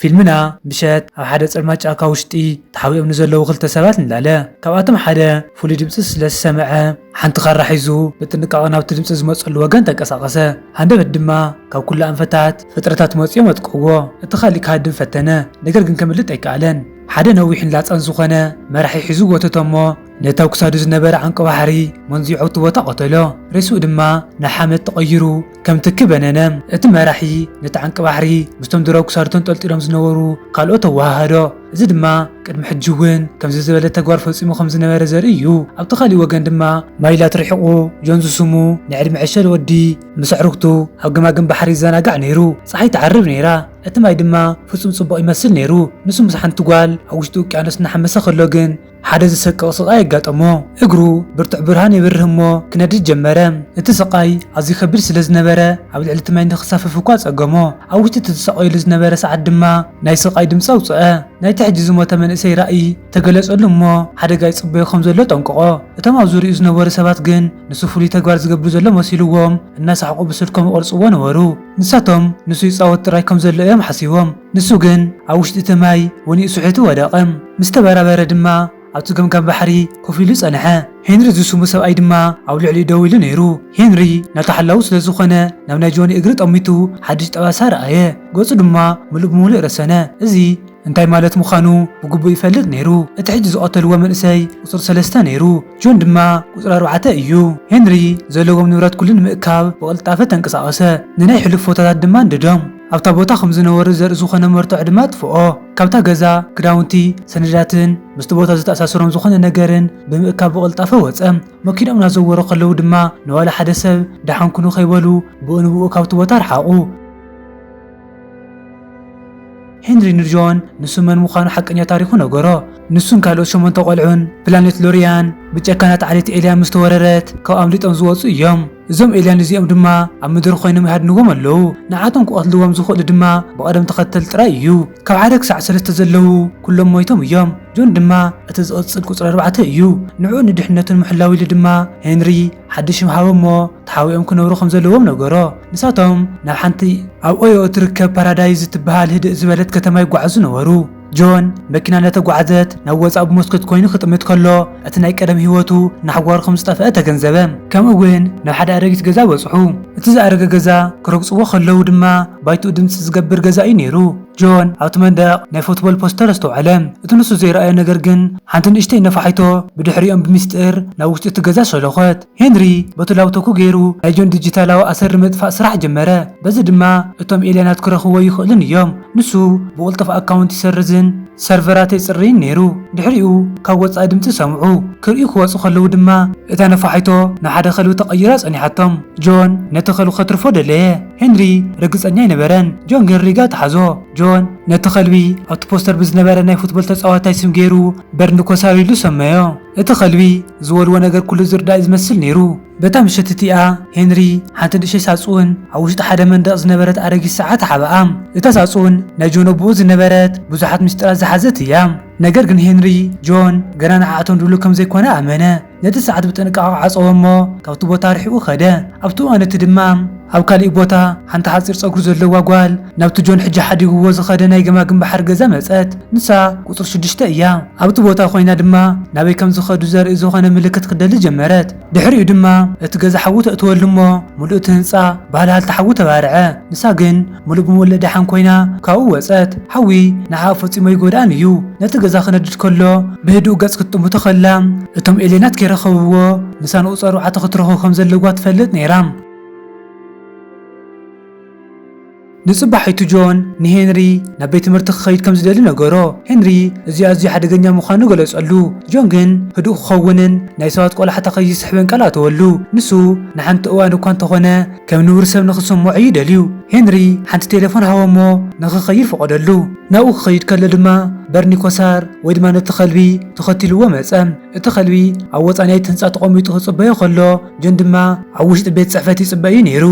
ፊልምና ምሸት ኣብ ሓደ ጸልማት ጫካ ውሽጢ ተሓቢኦም ንዘለዉ ክልተ ሰባት ንላለ። ካብኣቶም ሓደ ፍሉይ ድምጺ ስለ ዝሰምዐ ሓንቲ ካራ ሒዙ ብጥንቃቐ ናብቲ ድምጺ ዝመጸሉ ወገን ተንቀሳቐሰ። ሃንደበት ድማ ካብ ኩሉ ኣንፈታት ፍጥረታት መጺኦም ኣጥቅዕዎ። እቲ ካልእ ክሃድም ፈተነ ነገር ግን ከምልጥ ኣይከኣለን። ሓደ ነዊሕን ላጻን ዝኾነ መራሒ ሒዙ ጎተቶ'ሞ ነቲ ኣብ ክሳዱ ዝነበረ ዓንቂ ባሕሪ መንዚዑ ኣብቲ ቦታ ቀተሎ። ሬስኡ ድማ ናብ ሓመድ ተቐይሩ ከም ትኪ በነነ፣ እቲ መራሒ ነቲ ዓንቂ ባሕሪ ምስቶም ድሮ ክሳዱ ተንጠልጢሎም ዝነበሩ ካልኦት ኣወሃሃዶ። እዚ ድማ ቅድሚ ሕጂ እውን ከምዚ ዝበለ ተግባር ፈጺሙ ከም ዝነበረ ዘርኢ እዩ። ኣብቲ ካልእ ወገን ድማ። ማይላት ርሒቑ ጆን ዝስሙ ናይ ዕድመ ዕሸል ወዲ ምስ ኣዕሩኽቱ ኣብ ገማግም ባሕሪ ይዘናጋዕ ነይሩ። ጸሓይ ትዓርብ ነይራ፣ እቲ ማይ ድማ ፍጹም ጽቡቕ ይመስል ነይሩ። ንሱ ምስ ሓንቲ ጓል ኣብ ውሽጢ ውቅያኖስ እናሓመሰ ከሎ ግን። ሓደ ዘሰቅቕ ስቓይ ኣጋጠሞ። እግሩ ብርቱዕ ብርሃን የብርህ እሞ ክነድድ ጀመረ። እቲ ስቓይ ኣዝዩ ከቢድ ስለ ዝነበረ ኣብ ልዕሊ እቲ ማይ ንኽሳፈፍ እኳ ጸገሞ። ኣብ ውሽጢ እቲ ዝሳቐየሉ ዝነበረ ሰዓት ድማ ናይ ስቓይ ድምጺ ኣውጽኣ። ናይቲ ሕጂ ዝሞተ መንእሰይ ራእይ ተገለጸሉ እሞ ሓደጋ ይጽበዮ ከም ዘሎ ጠንቅቖ። እቶም ኣብ ዙርያኡ ዝነበሩ ሰባት ግን ንሱ ፍሉይ ተግባር ዝገብር ዘሎ መሲልዎም እናሰሓቑ ብስልኮም ይቐርጽዎ ነበሩ። ንሳቶም ንሱ ይጻወት ጥራይ ከም ዘሎ እዮም ሓሲቦም። ንሱ ግን ኣብ ውሽጢ እቲ ማይ ወኒኡ ስሒቱ ወደቐ። ምስ ተበራበረ ድማ ኣብቲ ገምጋም ባሕሪ ኮፍ ኢሉ ጸንሐ። ሄንሪ ዝስሙ ሰብኣይ ድማ ኣብ ልዕሊኡ ደው ኢሉ ነይሩ። ሄንሪ ናቱ ሓላዊ ስለ ዝዀነ ናብ ናይ ጆኒ እግሪ ጠሚቱ ሓድሽ ጠባሳ ረኣየ። ገጹ ድማ ምሉእ ብምሉእ ረሰነ። እዚ እንታይ ማለት ምዃኑ ብግቡእ ይፈልጥ ነይሩ። እቲ ሕጂ ዝቐተልዎ መንእሰይ ቍጽሪ ሰለስተ ነይሩ፣ ጆን ድማ ቍጽሪ ኣርባዕተ እዩ። ሄንሪ ዘለዎም ንብረት ኵሉ ንምእካብ ብቕልጣፈ ተንቀሳቐሰ፣ ንናይ ሕሉፍ ፎቶታት ድማ ኣንደዶም። ኣብታ ቦታ ከም ዝነበሩ ዘርኢ ዝኾነ መርትዖ ድማ ኣጥፍኦ። ካብታ ገዛ፣ ክዳውንቲ፣ ሰነዳትን ምስቲ ቦታ ዘተኣሳስሮም ዝኾነ ነገርን ብምእካብ ብቕልጣፈ ወጸ። መኪንኦም እናዘወሩ ከለዉ ድማ ንዋላ ሓደ ሰብ ደሓን ኩኑ ከይበሉ ብኡ ንብኡ ካብቲ ቦታ ረሓቑ። ሄንሪ ንጆን ንሱ መን ምዃኑ ሓቀኛ ታሪኹ ነገሮ። ንሱን ካልኦት ሸሞንተ ቆልዑን ፕላኔት ሎሪያን ብጨካናት ዓሌት ኤልያን ምስ ተወረረት ካብ ኣምሊጦም ዝወጹ እዮም። እዞም ኤልያን እዚኦም ድማ ኣብ ምድሪ ኮይኖም ይሃድንዎም ኣለዉ፣ ንዓቶም ክቐትልዎም ዝኽእሉ ድማ ብቐደም ተኸተል ጥራይ እዩ፣ ካብ ሓደ ክሳዕ ሰለስተ ዘለዉ ኩሎም ሞይቶም እዮም፣ ጆን ድማ እቲ ዝቕጽል ቁጽሪ ኣርባዕተ እዩ፣ ንዕኡ ንድሕነቱ ንምሕላው ኢሉ ድማ ሄንሪ ሓድሽ ሽም ሃቦ እሞ ተሓቢኦም ክነብሩ ከም ዘለዎም ነገሮ፣ ንሳቶም ናብ ሓንቲ ኣብ ኦዮ እትርከብ ፓራዳይዝ እትበሃል ህድእ ዝበለት ከተማ ይጓዓዙ ነበሩ። ጆን መኪና እናተጓዕዘት ናብ ወጻኢ ብመስኮት ኮይኑ ክጥምት ከሎ እቲ ናይ ቀደም ህይወቱ ናሕጓሩ ከም ዝጠፍኣ ተገንዘበ። ከምኡ ውን ናብ ሓደ ኣረጊት ገዛ በጽሑ። እቲ ዝኣረገ ገዛ ክረግጽዎ ከለዉ ድማ ባይትኡ ድምጺ ዝገብር ገዛ እዩ ነይሩ። ጆን ኣብቲ መንደቕ ናይ ፉትቦል ፖስተር ኣስተውዓለ። እቲ ንሱ ዘይረኣዮ ነገር ግን ሓንቲ ንእሽተይ ነፋሒቶ ብድሕሪኦም ብሚስጢር ናብ ውሽጢ እቲ ገዛ ሸሎኾት። ሄንሪ በቱ ላብቶኩ ገይሩ ናይ ጆን ዲጂታላዊ ኣሰር ንምጥፋእ ስራሕ ጀመረ፣ በዚ ድማ እቶም ኤልያናት ክረኽብዎ ኣይኽእሉን እዮም። ንሱ ብቕልጡፍ ኣካውንት ይሰርዝን ሰርቨራት የጽርይን ነይሩ። ድሕሪኡ ካብ ወጻኢ ድምጺ ሰምዑ፣ ክርእዩ ክወጹ ከለዉ ድማ እታ ነፋሒቶ ናብ ሓደ ከልቢ ተቐይራ ጸኒሓቶም። ጆን ነቲ ከልቢ ከትርፎ ደለየ፣ ሄንሪ ርግጸኛ ኣይነበረን። ጆን ግን ሪጋ ተሓዞ። ጆን ነቲ ከልቢ ኣብቲ ፖስተር ብዝነበረ ናይ ፉትቦል ተጻዋታይ ስም ገይሩ በርንኮ ሳር ኢሉ ሰመዮ። እቲ ኸልቢ ዝበልዎ ነገር ኩሉ ዝርዳእ እዩ ዝመስል ነይሩ። በታ ምሸት እቲኣ፣ ሄንሪ ሓንቲ ንእሽተይ ሳጹን ኣብ ውሽጢ ሓደ መንደቕ ዝነበረት ኣረጊት ሰዓት ሓበኣ። እታ ሳጹን ናይ ጆን ኣቦኡ ዝነበረት ብዙሓት ምስጢራት ዝሓዘት እያ። ነገር ግን ሄንሪ፣ ጆን ገና ንዓኣቶም ድሉው ከም ዘይኰነ ኣመነ። ነቲ ሰዓት ብጥንቃቐ ዓጸዎ እሞ ካብቲ ቦታ ርሒቑ ከደ፣ ኣብቲ እዋን እቲ ድማ፣ ኣብ ካሊእ ቦታ ሓንቲ ሓጺር ጸጉሪ ዘለዋ ጓል ናብቲ ጆን ሕጂ ሓዲግዎ ዝኸደ ናይ ገማግም ባሕሪ ገዛ መጸት። ንሳ ቁጽሪ ሽዱሽተ እያ። ኣብቲ ቦታ ኮይና ድማ ናበይ ከም ዝኸዱ ዘርኢ ዝኾነ ምልክት ክትደሊ ጀመረት። ድሕሪኡ ድማ እቲ ገዛ ሓዊ ተእትወሉ እሞ ምሉእ እቲ ህንጻ ብሃልሃልታ ሓዊ ተባርዐ። ንሳ ግን ምሉእ ብምሉእ ደሓን ኮይና ካብኡ ወጸት። ሓዊ ንዓኣ ፈጺሙ ኣይጎድኣን እዩ። ነቲ ገዛ ክነድድ ከሎ ብህዱእ ገጽ ክትጥምቶ ከላ እቶም ኤልየናት ከይረኸብዎ ንሳ ንቁጽሪ ኣርባዕተ ክትረኽቦ ከም ዘለዋ ትፈልጥ ነይራ። ንጽባሒቱ ጆን ንሄንሪ ናብ ቤት ትምህርቲ ክኸይድ ከም ዝደሊ ነገሮ። ሄንሪ እዚ ኣዝዩ ሓደገኛ ምዃኑ ገለጸሉ፣ ጆን ግን ህዱእ ክኸውንን ናይ ሰባት ቈላሕታ ከይስሕብን ቃል ኣተወሉ። ንሱ ንሓንቲ እዋን እኳ እንተ ዀነ ከም ንቡር ሰብ ንኽስምዖ እዩ ደልዩ። ሄንሪ ሓንቲ ቴለፎን ሃቦ እሞ ንኽኸይድ ፈቐደሉ። ናብኡ ክኸይድ ከሎ ድማ በርኒ ኮሳር ወይ ድማ ነቲ ኸልቢ ተኸቲልዎ መጸ። እቲ ኸልቢ ኣብ ወጻኢ ናይቲ ህንጻ ተቐሚጡ ክጽበዮ ኸሎ፣ ጆን ድማ ኣብ ውሽጢ ቤት ጽሕፈት ይጽበ እዩ ነይሩ።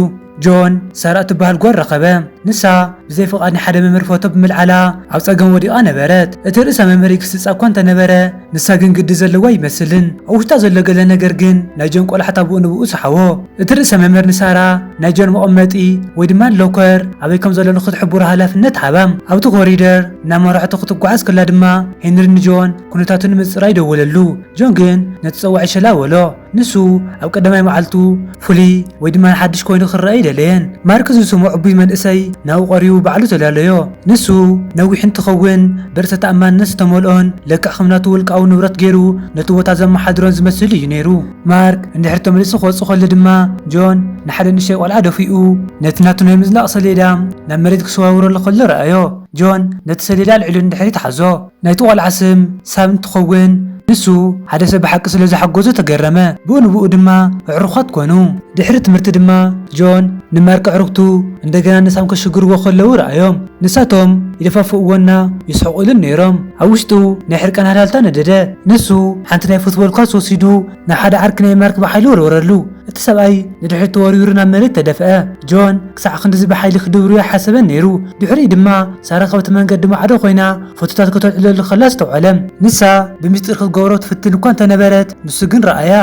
ጆን፣ ሳራ እትበሃል ጓል ረኸበ። ንሳ፣ ብዘይ ፍቓድ ንሓደ መምህር ፎቶ ብምልዓላ ኣብ ጸገም ወዲቓ ነበረት። እቲ ርእሰ መምህር ይግስጻ እኳ እንተ ነበረ፣ ንሳ ግን ግዲ ዘለዋ ኣይመስልን። ኣብ ውሽጣ ዘሎ ገለ ነገር ግን ናይ ጆን ቈላሕታ ብኡ ንብኡ ሰሓቦ። እቲ ርእሰ መምህር ንሳራ ናይ ጆን መቐመጢ ወይ ድማ ሎከር ኣበይ ከም ዘሎ ንኽትሕብሮ ሃላፍነት ሃባ። ኣብቲ ኮሪደር እናመራሕቶ ክትጓዓዝ ከላ ድማ ሄንሪ ንጆን ኵነታቱ ንምጽራይ ደወለሉ። ጆን ግን ነቲ ጸዋዒ ሸላ በሎ። ንሱ ኣብ ቀዳማይ መዓልቱ ፍሉይ ወይ ድማ ሓድሽ ኮይኑ ክረኣ ኣይደለየን። ማርክ ዝስሙ ዕቡይ መንእሰይ ናብኡ ቀሪቡ ባዕሉ ተዳለዮ። ንሱ ነዊሕ እንትኸውን ብርእሰ ተኣማንነት ዝተመልኦን ልክዕ ከም ናቱ ውልቃዊ ንብረት ገይሩ ነቲ ቦታ ዘመሓድሮን ዝመስል እዩ ነይሩ። ማርክ እንድሕሪ ተመሊሱ ክወጽእ ከሎ ድማ ጆን ንሓደ ንእሽተይ ቆልዓ ደፊኡ ነቲ ናቱ ናይ ምዝላቕ ሰሌዳ ናብ መሬት ክሰዋውረሉ ከሎ ረኣዮ። ጆን ነቲ ሰሌዳ ኣልዒሉ ንድሕሪት ሓዞ። ናይቲ ቆልዓ ስም ሳም እንትኸውን ንሱ ሓደ ሰብ ብሓቂ ስለ ዘሓጎዞ ተገረመ። ብኡ ንብኡ ድማ ኣዕሩዃት ኮኑ። ድሕሪ ትምህርቲ ድማ ጆን ንማርክ ኣዕሩኽቱ እንደገና ንሳም ከሽግርዎ ከለዉ ረኣዮም። ንሳቶም ይደፋፍእዎና ይስሕቑሉን ነይሮም። ኣብ ውሽጡ ናይ ሕርቃን ሃልሃልታ ነደደ። ንሱ ሓንቲ ናይ ፉትቦል ኳስ ወሲዱ ናብ ሓደ ዓርኪ ናይ ማርክ ብሓይሊ ወርወረሉ። እቲ ሰብኣይ ንድሕሪት ተወርዊሩ ናብ መሬት ተደፍኣ። ጆን ክሳዕ ክንድዚ ብሓይሊ ክድብርዮ ኣይሓሰበን ነይሩ። ድሕሪኡ ድማ ሳራ ካብቲ መንገዲ ማዕዶ ኰይና ፎቶታት ከተልዕለሉ ከላ ኣስተውዓለ። ንሳ ብሚስጢር ክትገብሮ ትፍትን እኳ እንተ ነበረት፣ ንሱ ግን ረኣያ።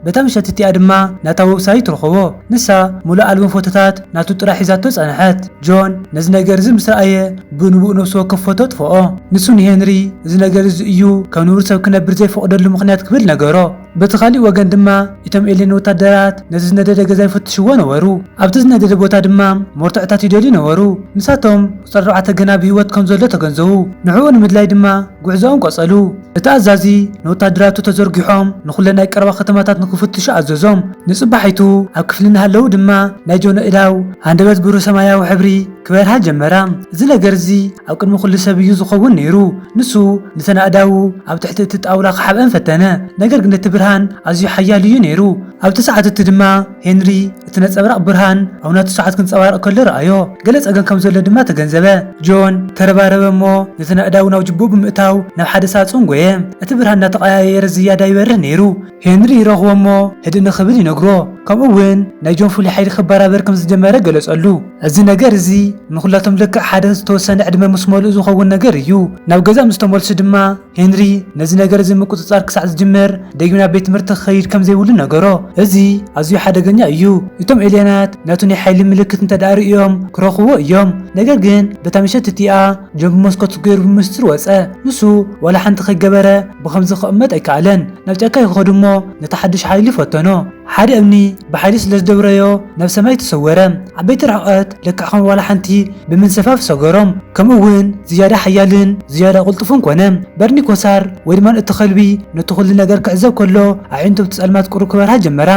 በታ ምሸት እቲኣ ድማ ናታ ወብሳይት ረኸቦ። ንሳ ምሉእ ኣልበም ፎቶታት ናቱ ጥራይ ሒዛቶ ጸንሐት። ጆን ነዚ ነገር እዚ ምስ ረኣየ ብንብኡ ነፍሲ ወከፍ ፎቶ ኣጥፍኦ። ንሱ ንሄንሪ እዚ ነገር እዚ እዩ ከም ንቡር ሰብ ክነብር ዘይፈቕደሉ ምኽንያት ክብል ነገሮ። በቲ ኻሊእ ወገን ድማ እቶም ኤልየን ወታደራት ነቲ ዝነደደ ገዛ ይፍትሽዎ ነበሩ። ኣብቲ ዝነደደ ቦታ ድማ ሞርተዕታት ይደልዩ ነበሩ። ንሳቶም ቁጽሪ ኣርባዕተ ገና ብህይወት ከም ዘሎ ተገንዘቡ፣ ንዕኡ ንምድላይ ድማ ጉዕዞኦም ቀጸሉ። እቲ ኣዛዚ ንወታደራቱ ተዘርጊሖም ንኹለን ናይ ቀረባ ከተማታት ንኽፍትሹ ኣዘዞም። ንጽባሒቱ ኣብ ክፍሊ እናሃለዉ ድማ ናይ ጆን ኣእዳው ሃንደበት ብሩህ ሰማያዊ ሕብሪ፣ ክበርሃ ጀመራ። እዚ ነገር'ዚ ኣብ ቅድሚ ኵሉ ሰብ እዩ ዚኸውን ነይሩ። ንሱ ነተን ኣእዳዉ ኣብ ትሕቲ እቲ ጣውላ ኺሓብኣን ፈተነ፣ ነገር ግን እቲ ብርሃን ኣዝዩ ሓያል እዩ ነይሩ። ኣብቲ ሰዓት እቲ ድማ ሄንሪ እቲ ነጸብራቕ ብርሃን ኣብ ናቱ ሰዓት ኪንጸባረቕ ከሎ ረኣዮ። ገለ ጸገም ከም ዘሎ ድማ ተገንዘበ። ጆን ተረባረበ እሞ ነተን ኣእዳዉ ናብ ጅቡኡ ብምእታው ናብ ሓደ ሳጹን ጐየ። እቲ ብርሃን እናተቐያየረ ዝያዳ ይበርህ ነይሩ። ሄንሪ ይረኽቦ እሞ ህድእ ንኽብል ይነግሮ፣ ከምኡ እውን ናይ ጆን ፍሉይ ሓይሊ ክበራበር ከም ዝጀመረ ገለጸሉ። እዚ ነገር እዚ ንዅላቶም ልክዕ ሓደ ዝተወሰነ ዕድመ ምስ መልኡ ዝኸውን ነገር እዩ። ናብ ገዛ ምስ ተመልሱ ድማ ሄንሪ ነዚ ነገር እዚ ምቍጽጻር ክሳዕ ዝጅምር ደጊም ናብ ቤት ትምህርቲ ክኸይድ ከም ዘይብሉ ነገሮ። እዚ ኣዝዩ ሓደገኛ እዩ። እቶም ኤልየናት ነቲ ናይ ሓይሊ ምልክት እንተ ደኣ ርእዮም ክረኽብዎ እዮም። ነገር ግን በታ ምሸት እቲኣ ጆን ብመስኮት ገይሩ ብምስጢር ወጸ። ንሱ ዋላ ሓንቲ ከይገበረ ብኸምዚ ክቕመጥ ኣይከኣለን። ናብ ጫካ ይኸዱ እሞ ነቲ ሓድሽ ሓይሊ ፈተኖ። ሓደ እምኒ ብሓይሊ ስለ ዝደብረዮ ናብ ሰማይ ተሰወረ። ዓበይቲ ርሕቐት ልክዕ ከም ዋላ ሓንቲ ብምንሰፋፍ ሰገሮም። ከምኡ እውን ዝያዳ ሓያልን ዝያዳ ቅልጡፍን ኮነ። በርኒ ኮሳር ወይ ድማ እቲ ከልቢ ነቲ ኩሉ ነገር ክዕዘብ ከሎ ኣዒንቱ ኣብቲ ጸልማት ቁሩብ ክበርሃ ጀመራ።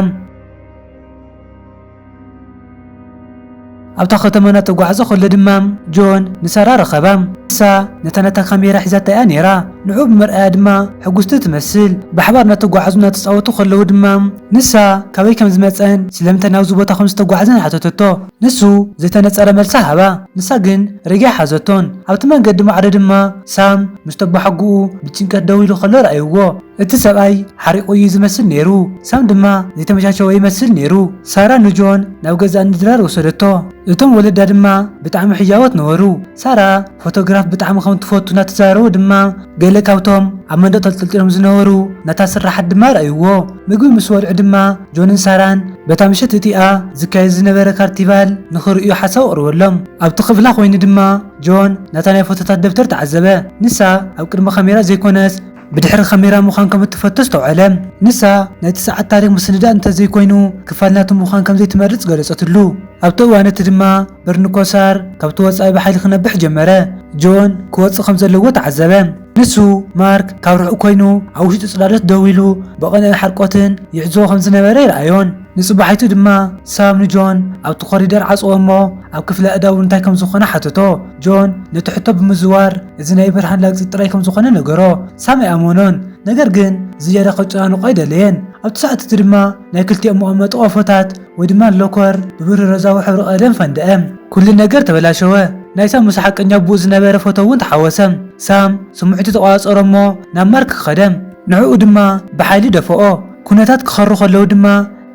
ኣብታ ከተማ እናተጓዕዘ ከሎ ድማ ጆን ንሳራ ረኸባ። ንሳ ነታ ናታ ካሜራ ሒዛታ'ያ ነይራ፣ ንዕኡ ብምርኣያ ድማ ሕጉስቲ ትመስል። ብሓባር እናተጓዕዙን እናተጻወቱ ከለዉ ድማ ንሳ ካበይ ከም ዝመጸን ስለምንታይ ናብዚ ቦታ ከም ዝተጓዕዘን ሓተተቶ። ንሱ ዘይተነጸረ መልሲ ሃባ፣ ንሳ ግን ሪጋ ኣይሓዘቶን። ኣብቲ መንገዲ ማዕዶ ድማ ሳም ምስ ተቦሓጎኡ ብጭንቀት ደው ኢሉ ከሎ ረኣይዎ። እቲ ሰብኣይ ሓሪቑ እዩ ዝመስል ነይሩ፣ ሳም ድማ ዘይተመቻቸወ ይመስል ነይሩ። ሳራ ንጆን ናብ ገዛእ ንድራር ወሰደቶ፣ እቶም ወለዳ ድማ ብጣዕሚ ሕያዎት ነበሩ። ሳራ ፎቶግራፍ ብጣዕሚ ከም እትፈቱ እናተዛረቡ ድማ ገለ ካብቶም ኣብ መንደቕ ተንጠልጢሎም ዝነበሩ ናታ ስርሓት ድማ ረኣዩዎ። ምግቢ ምስ በልዑ ድማ ጆንን ሳራን በታ ምሸት እቲኣ ዝካየድ ዝነበረ ካርቲቫል ንኽርእዩ ሓሳብ ኣቕርበሎም። ኣብቲ ክፍላ ኮይኑ ድማ ጆን ናታ ናይ ፎቶታት ደብተር ተዓዘበ፣ ንሳ ኣብ ቅድሚ ካሜራ ዘይኮነስ፣ ብድሕሪ ካሜራ ምዃን ከም እትፈቱ ኣስተውዓለ። ንሳ፣ ናይቲ ሰዓት ታሪኽ ምስንዳእ እንተ ዘይኰይኑ ክፋል ናቱ ምዃን ከም ዘይትመርጽ ገለጸትሉ። ኣብቲ እዋን እቲ ድማ በርንኮሳር ካብቲ ወጻኢ ብሓይሊ ክነብሕ ጀመረ። ጆን ክወጽእ ከም ዘለዎ ተዓዘበ። ንሱ፣ ማርክ ካብ ርሑቕ ኰይኑ ኣብ ውሽጢ ጽላሎት ደው ኢሉ ብቕንእን ሓርቆትን ይዕዘቦ ከም ዝነበረ ይርኣዮን። ንጽባሒቱ ድማ ሳም ንጆን ኣብቲ ኮሪደር ዓጽዎ እሞ ኣብ ክፍሊ ኣእዳው እንታይ ከም ዝዀነ ሓተቶ። ጆን ነቲ ሕቶ ብምዝዋር እዚ ናይ ብርሃን ላግጺ ጥራይ ከም ዝዀነ ነገሮ። ሳም ኣይኣመኖን፣ ነገር ግን ዝያዳ ከጨናንቖ ኣይደለየን። ኣብቲ ሰዓት እቲ ድማ ናይ ክልቲኦም መቐመጢ ቆፎታት ወይ ድማ ሎከር ብብርህ ሮዛዊ ሕብሪ ቀለም ፈንደ'ም። ኵሉ ነገር ተበላሸወ፣ ናይ ሳም ምስ ሓቀኛ ኣቦኡ ዝነበረ ፎቶ እውን ተሓወሰ። ሳም ስምዒቱ ተቖጻጸሮ እሞ ናብ ማርክ ከደ'ም። ንዕኡ ድማ ብሓይሊ ደፍኦ፣ ኵነታት ክኸሩ ከለዉ ድማ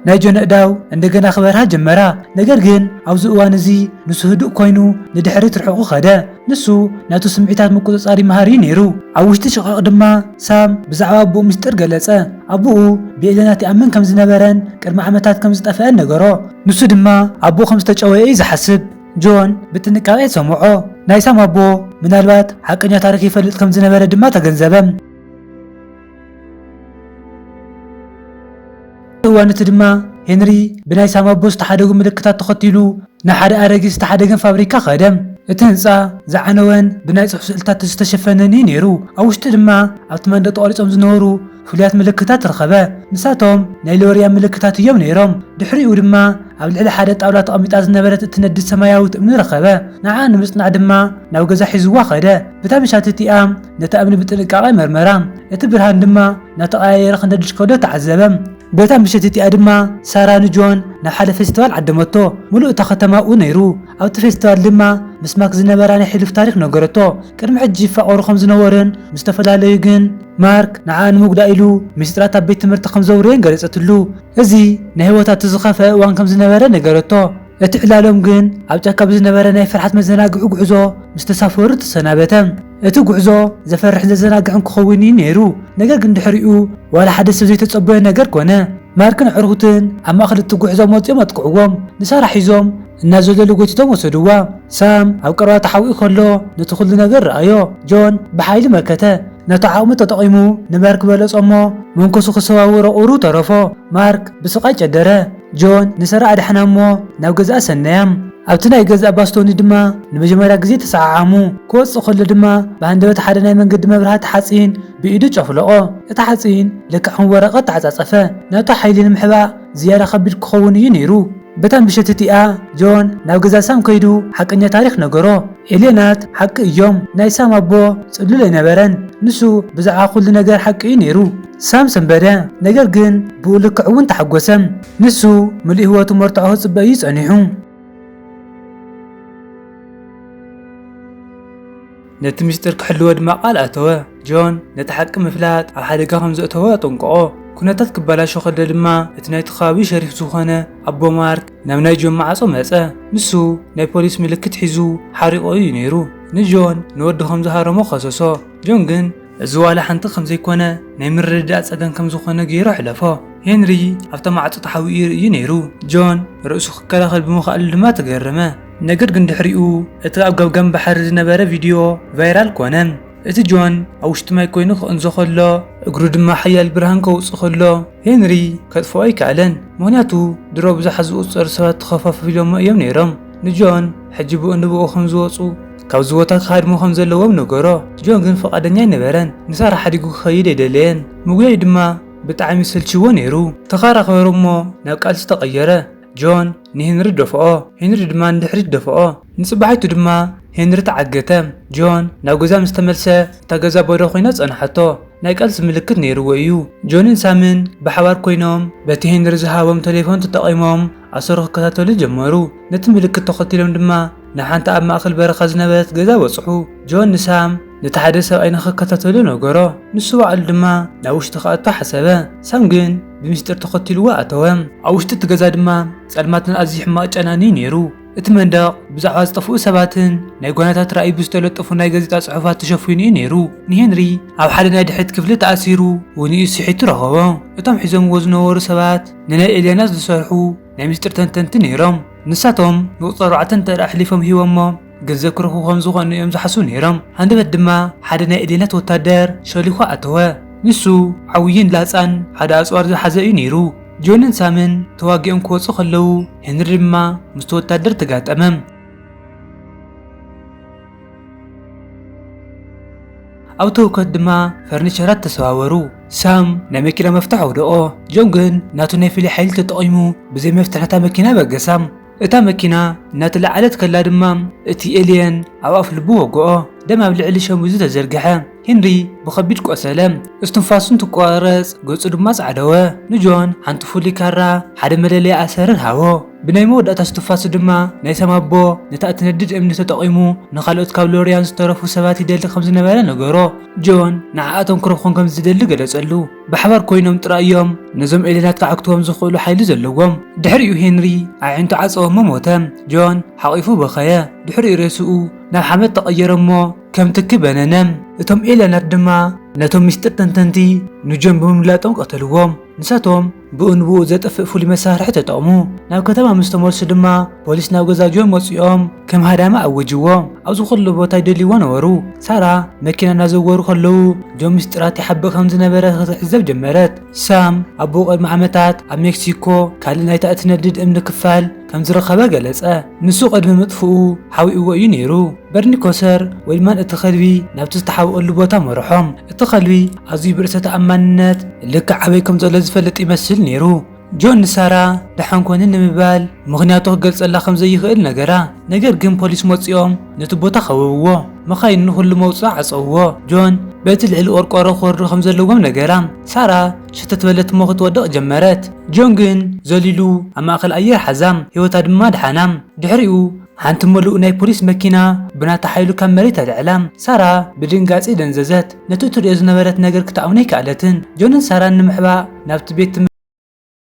ናይ ጆን ኣእዳው እንደገና ክበርሃ ጀመራ። ነገር ግን ኣብዚ እዋን እዚ ንሱ ህዱእ ኮይኑ ንድሕሪት ርሑቑ ከደ። ንሱ ናቱ ስምዒታት ምቁጽጻር ይመሃር እዩ ነይሩ። ኣብ ውሽጢ ሽቓቕ ድማ ሳም ብዛዕባ ኣቦኡ ምስጢር ገለጸ። ኣቦኡ ብኤለናት ይኣምን ከም ዝነበረን ቅድሚ ዓመታት ከም ዝጠፍአን ነገሮ። ንሱ ድማ ኣቦኡ ከም ዝተጨወየ እዩ ዝሓስብ። ጆን ብጥንቃቄ ሰምዖ። ናይ ሳም ኣቦ ምናልባት ሓቀኛ ታሪኽ ይፈልጥ ከም ዝነበረ ድማ ተገንዘበ። ኣብቲ እዋን እቲ ድማ ሄንሪ ብናይ ሳም ኣቦ ዝተሓደጉ ምልክታት ተኸቲሉ ናብ ሓደ ኣረጊት ዝተሓደገን ፋብሪካ ከደ። እቲ ህንጻ ዝዓነወን ብናይ ጽሑፍ ስእልታት ዝተሸፈነን እዩ ነይሩ፣ ኣብ ውሽጢ ድማ ኣብቲ መንደቕ ተቐሪጾም ዝነበሩ ፍሉያት ምልክታት ረኸበ። ንሳቶም ናይ ሎርያን ምልክታት እዮም ነይሮም። ድሕሪኡ ድማ ኣብ ልዕሊ ሓደ ጣውላ ተቐሚጣ ዝነበረት እትነድድ ሰማያዊት እምኒ ረኸበ፣ ንዓኣ ንምጽናዕ ድማ ናብ ገዛ ሒዝዋ ከደ። በታ ምሻት እቲኣ፣ ነታ እምኒ ብጥንቃቐ መርመራ፣ እቲ ብርሃን ድማ እናተቐያየረ ኽነድድ ከሎ ተዓዘበ። በታ ምሸት እቲኣ ድማ ሳራ ንጆን ናብ ሓደ ፌስቲቫል ዓደመቶ። ምሉእ እታ ኸተማ ኣብኡ ነይሩ፣ ኣብቲ ፌስቲቫል ድማ ምስ ማክ ዝነበራ ናይ ሕሉፍ ታሪኽ ነገረቶ። ቅድሚ ሕጂ ይፋቐሩ ኸም ዝነበሩን ምስ ተፈላለዩ ግን ማርክ ንዓኣ ንምጕዳእ ኢሉ ምስጢራት ኣብ ቤት ትምህርቲ ኸም ዘውረየን ገለጸትሉ። እዚ ናይ ህይወታ እቲ ዝኸፍአ እዋን ከም ዝነበረ ነገረቶ። እቲ ዕላሎም ግን ኣብ ጫካ ብዝነበረ ናይ ፍርሓት መዘናግዒ ጕዕዞ ምስ ተሳፈሩ ተሰናበተ። እቲ ጉዕዞ ዘፈርሕን ዘዘናግዕን ክኸውን እዩ ነይሩ፣ ነገር ግን ድሕሪኡ ዋላ ሓደ ሰብ ዘይተጸበዮ ነገር ኮነ። ማርክን ኣዕሩኽትን ኣብ ማእከል እቲ ጉዕዞ መጺኦም ኣጥቅዕዎም፣ ንሳራ ሒዞም እናዘለሉ ጎቲቶም ወሰድዋ። ሳም ኣብ ቀረባ ተሓቢኡ ከሎ ነቲ ኹሉ ነገር ረኣዮ። ጆን ብሓይሊ መከተ፣ ነቲ ዓቕሙ ተጠቒሙ ንማርክ በለጾ'ሞ መንኮሱ ክሰባብሮ ቁሩብ ተረፎ። ማርክ ብስቓይ ጨደረ። ጆን ንሰራ ኣድሓና እሞ ናብ ገዛኣ ሰነያ። ኣብቲ ናይ ገዛእ ባስቶኒ ድማ ንመጀመርያ ግዜ ተሰዓዓሙ። ክወጽእ ከሎ ድማ ብሃንደበት ሓደ ናይ መንገዲ መብራህቲ ሓጺን ብኢዱ ጨፍለቖ። እቲ ሓጺን ልክዕ ከም ወረቐት ተዓጻጸፈ። ናቱ ሓይሊ ንምሕባእ ዝያዳ ከቢድ ክኸውን እዩ ነይሩ። በታ ምሸት እቲኣ ጆን ናብ ገዛ ሳም ከይዱ ሓቀኛ ታሪኽ ነገሮ። ኤልየናት ሓቂ እዮም። ናይ ሳም ኣቦ ጽሉል ኣይነበረን። ንሱ ብዛዕባ ኩሉ ነገር ሓቂ እዩ ነይሩ። ሳም ሰንበደ፣ ነገር ግን ብኡ ልክዕ እውን ተሓጐሰ። ንሱ ምሉእ ህይወቱ መርትዖ ክጽበ እዩ ጸኒሑ። ነቲ ምስጢር ክሕልዎ ድማ ቃል ኣተወ። ጆን ነቲ ሓቂ ምፍላጥ ኣብ ሓደጋ ከም ዘእተዎ ኣጠንቀቖ። ኵነታት ክበላሾ ከሎ ድማ እቲ ናይቲ ከባቢ ሸሪፍ ዝዀነ ኣቦ ማርክ ናብ ናይ ጆን ማዕጾ መጸ። ንሱ ናይ ፖሊስ ምልክት ሒዙ ሓሪቑ እዩ ነይሩ። ንጆን ንወዱ ከም ዝሃረሞ ከሰሶ። ጆን ግን እዚ ዋላ ሓንቲ ከም ዘይኰነ ናይ ምርድዳእ ጸገም ከም ዝዀነ ገይሩ ኣሕለፎ። ሄንሪ ኣብታ ማዕጾ ተሓቢኡ ይርእዩ ነይሩ፣ ጆን ርእሱ ክከላኸል ብምኽኣሉ ድማ ተገረመ። ነገር ግን ድሕሪኡ እቲ ኣብ ገምጋም ባሕሪ ዝነበረ ቪድዮ ቫይራል ኰነ፣ እቲ ጆን ኣብ ውሽጢ ማይ ኰይኑ ክቕንዞ ከሎ፣ እግሩ ድማ ሓያል ብርሃን ከውጽእ ከሎ። ሄንሪ ከጥፍኦ ኣይከኣለን፣ ምኽንያቱ ድሮ ብዙሓት ዝቑጸሩ ሰባት ተኸፋፊሎሞ እዮም ነይሮም። ንጆን ሕጂ ብኡ ንብኡ ከም ዝወጹ ካብዚ ቦታ ክሃድሙ ከም ዘለዎም ነገሮ። ጆን ግን ፍቓደኛ ኣይነበረን፣ ንሳራ ሓዲጉ ክኸይድ ኣይደለየን፣ ምጉያይ ድማ ብጣዕሚ ሰልቺዎ ነይሩ። ተኸራኸሩ እሞ ናብ ቃልሲ ተቐየረ። ጆን ንሄንሪ ደፍኦ፣ ሄንሪ ድማ ንድሕሪት ደፍኦ። ንጽባሒቱ ድማ ሄንሪ ተዓገተ። ጆን ናብ ገዛ ምስ ተመልሰ እታ ገዛ ባዶ ኮይና ጸንሓቶ። ናይ ቃልሲ ምልክት ነይርዎ እዩ። ጆንን ሳምን ብሓባር ኮይኖም በቲ ሄንሪ ዝሃቦም ተሌፎን ተጠቒሞም ኣሰሩ ክከታተሉ ጀመሩ። ነቲ ምልክት ተኸቲሎም ድማ ንሓንቲ ኣብ ማእከል በረኻ ዝነበረት ገዛ በጽሑ። ጆን ንሳም። ነቲ ሓደ ሰብኣይ ንኽከታተሎ ነገሮ፣ ንሱ ባዕሉ ድማ ናብ ውሽጢ ክኣቱ ሓሰበ። ሳም ግን ብሚስጢር ተኸቲሉዎ ኣተወ። ኣብ ውሽጢ እቲ ገዛ ድማ ጸልማትን ኣዝዩ ሕማቕ ጨናን እዩ ነይሩ። እቲ መንደቕ ብዛዕባ ዝጠፍኡ ሰባትን ናይ ጓናታት ራእይ ብዝተለጠፉ ናይ ጋዜጣ ጽሑፋት ተሸፊኑ እዩ ነይሩ። ንሄንሪ ኣብ ሓደ ናይ ድሕሪት ክፍሊ ተኣሲሩ ውንኡ ስሒቱ ረኸቦ። እቶም ሒዞምዎ ዝነበሩ ሰባት ንናይ ኤልያና ዝሰርሑ ናይ ሚስጢር ተንተንቲ ነይሮም። ንሳቶም ንቑጽሪ ኣርባዕተ እንተድኣ ኣሕሊፎም ሂቦሞ፣ ገንዘብ ክረኽቡ ከም ዝኾኑ እዮም ዝሓስቡ ነይሮም። ሃንደበት ድማ ሓደ ናይ እዴናት ወታደር ሾሊኹ ኣተወ። ንሱ ዓውይን ላጻን ሓደ ኣጽዋር ዝሓዘ እዩ ነይሩ። ጆንን ሳምን ተዋጊኦም ክወጹ ከለዉ ሄንሪ ድማ ምስቲ ወታደር ተጋጠመ። ኣብ ተውከት ድማ ፈርኒቸራት ተሰባበሩ። ሳም ናይ መኪና መፍትሕ ኣውደቖ፣ ጆን ግን ናቱ ናይ ፍሉይ ሓይሊ ተጠቒሙ ብዘይ መፍትሕ ነታ መኪና በገሳ። እታ መኪና እናተላዓለት ከላ ድማ እቲ ኤልየን ኣብ ኣፍልቡ ወግኦ። ደም ኣብ ልዕሊ ሸሚዙ ተዘርግሐ። ሄንሪ ብኸቢድ ቆሰለ፣ እስትንፋሱ እንትቋረጽ ገጹ ድማ ጻዕደወ። ንጆን ሓንቲ ፍሉይ ካራ፣ ሓደ መለለዪ ኣሰርን ሃቦ። ብናይ መወዳእታ እስትንፋሱ ድማ ናይ ሰም ኣቦ ነታ እትነድድ እምኒ ተጠቒሙ ንኻልኦት ካብ ሎርያን ዝተረፉ ሰባት ይደሊ ከም ዝነበረ ነገሮ። ጆን ንዓኣቶም ክረኽቦም ከም ዝደሊ ገለጸሉ። ብሓባር ኮይኖም ጥራይ እዮም ነዞም ኤልየናት ከዓግትዎም ዝኽእሉ ሓይሊ ዘለዎም። ድሕሪኡ ሄንሪ ኣዒንቱ ዓጸወሞ ሞተ። ጆን ሓቚፉ በኸየ። ድሕሪኡ ሬስኡ ናብ ሓመድ ተቐየረ እሞ ከም ትኪ በነነ። እቶም ኤልየናት ድማ ነቶም ምስጢር ተንተንቲ ንጆን ብምምላጦም ቀተልዎም። ንሳቶም ብኡ ንብኡ ዘጥፍእ ፍሉይ መሳርሒ ተጠቕሙ። ናብ ከተማ ምስ ተመልሱ ድማ ፖሊስ ናብ ገዛ ጆን መጺኦም ከም ሃዳሚ ኣወጅዎ። ኣብዚ ኩሉ ቦታ ይደልይዎ ነበሩ። ሳራ መኪና እናዘወሩ ከለዉ ጆን ምስጢራት ይሓብእ ከም ዝነበረ ክትዕዘብ ጀመረት። ሳም ኣቦኡ ቅድሚ ዓመታት ኣብ ሜክሲኮ ካልእ ናይታ እትነድድ እምኒ ክፋል ከም ዝረኸበ ገለጸ። ንሱ ቅድሚ ምጥፍኡ ሓቢእዎ እዩ ነይሩ። በርኒ ኮሰር ዌልማን እቲ ከልቢ ናብቲ ዝተሓብእሉ ቦታ መርሖም። እቲ ከልቢ ኣዝዩ ብርእሰ ተኣማንነት ልክዕ ኣበይ ከም ዘሎ ዝፈልጥ ይመስል ነይሩ። ጆን ንሳራ ደሓን ኰኒ ንምባል ምኽንያቱ ክገልጸላ ከም ዘይኽእል ነገራ። ነገር ግን ፖሊስ መጺኦም ነቲ ቦታ ከበብዎ። መኻይን ንዅሉ መውጽኢ ዓጸውዎ። ጆን በቲ ልዕሊ ቈርቈሮ ክወርዱ ከም ዘለዎም ነገራ። ሳራ ሸተት በለት እሞ ክትወድቕ ጀመረት። ጆን ግን ዘሊሉ ኣብ ማእከል ኣየር ሓዛ፣ ህይወታ ድማ ደሓና። ድሕሪኡ ሓንቲ ምሉእ ናይ ፖሊስ መኪና ብናታ ሓይሉ ካብ መሬት ኣልዕላ። ሳራ ብድንጋጼ ደንዘዘት። ነቲ እትርእዮ ዝነበረት ነገር ክትኣምኖ ኣይከኣለትን። ጆንን ሳራን ንምሕባእ ናብቲ ቤት